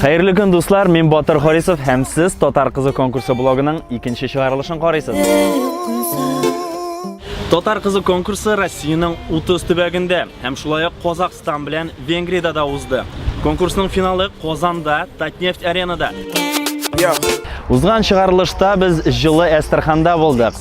Хәерле көн, дуслар! Мин Батыр Харисов һәм сез Татар кызы конкурсы блогының икенче чыгарылышын карыйсыз. Татар кызы конкурсы Россиянең 30 төбәгендә һәм шулай ук Казахстан белән Венгриядә да узды. Конкурсның финалы Казанда, Татнефть аренада. Узган чыгарылышта без җылы Әстерханда булдык.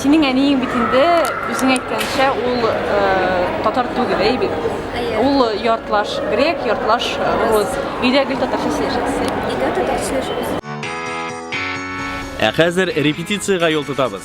Синең әниең бит инде үзең әйткәнчә ул татар түгел, әй бит. Ул яртлаш грек, яртлаш рус. Өйдә гел татарча сөйләшәсез. Өйдә татарча сөйләшәсез. Ә хәзер репетициягә юл тотабыз.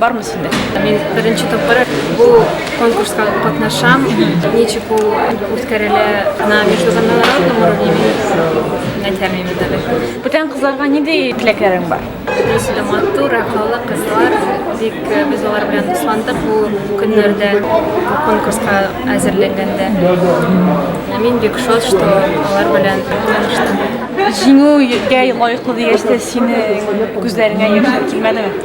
Бармы синдә? Мин беренче тапкыр бу конкурска катнашам. Ничек ул үткәрелә на международном уровне мин әйтәмим әле. Бүтән кызларга ниндәй теләкләрең бар? Үзле матур, акыллы кызлар. Бик э, без алар белән дусландык бу көннәрдә конкурска әзерләнгәндә. Мин бик шат, что алар белән таныштым. Җиңүгә лаеклы дигәч тә сине күзләреңә яшь килмәдеме?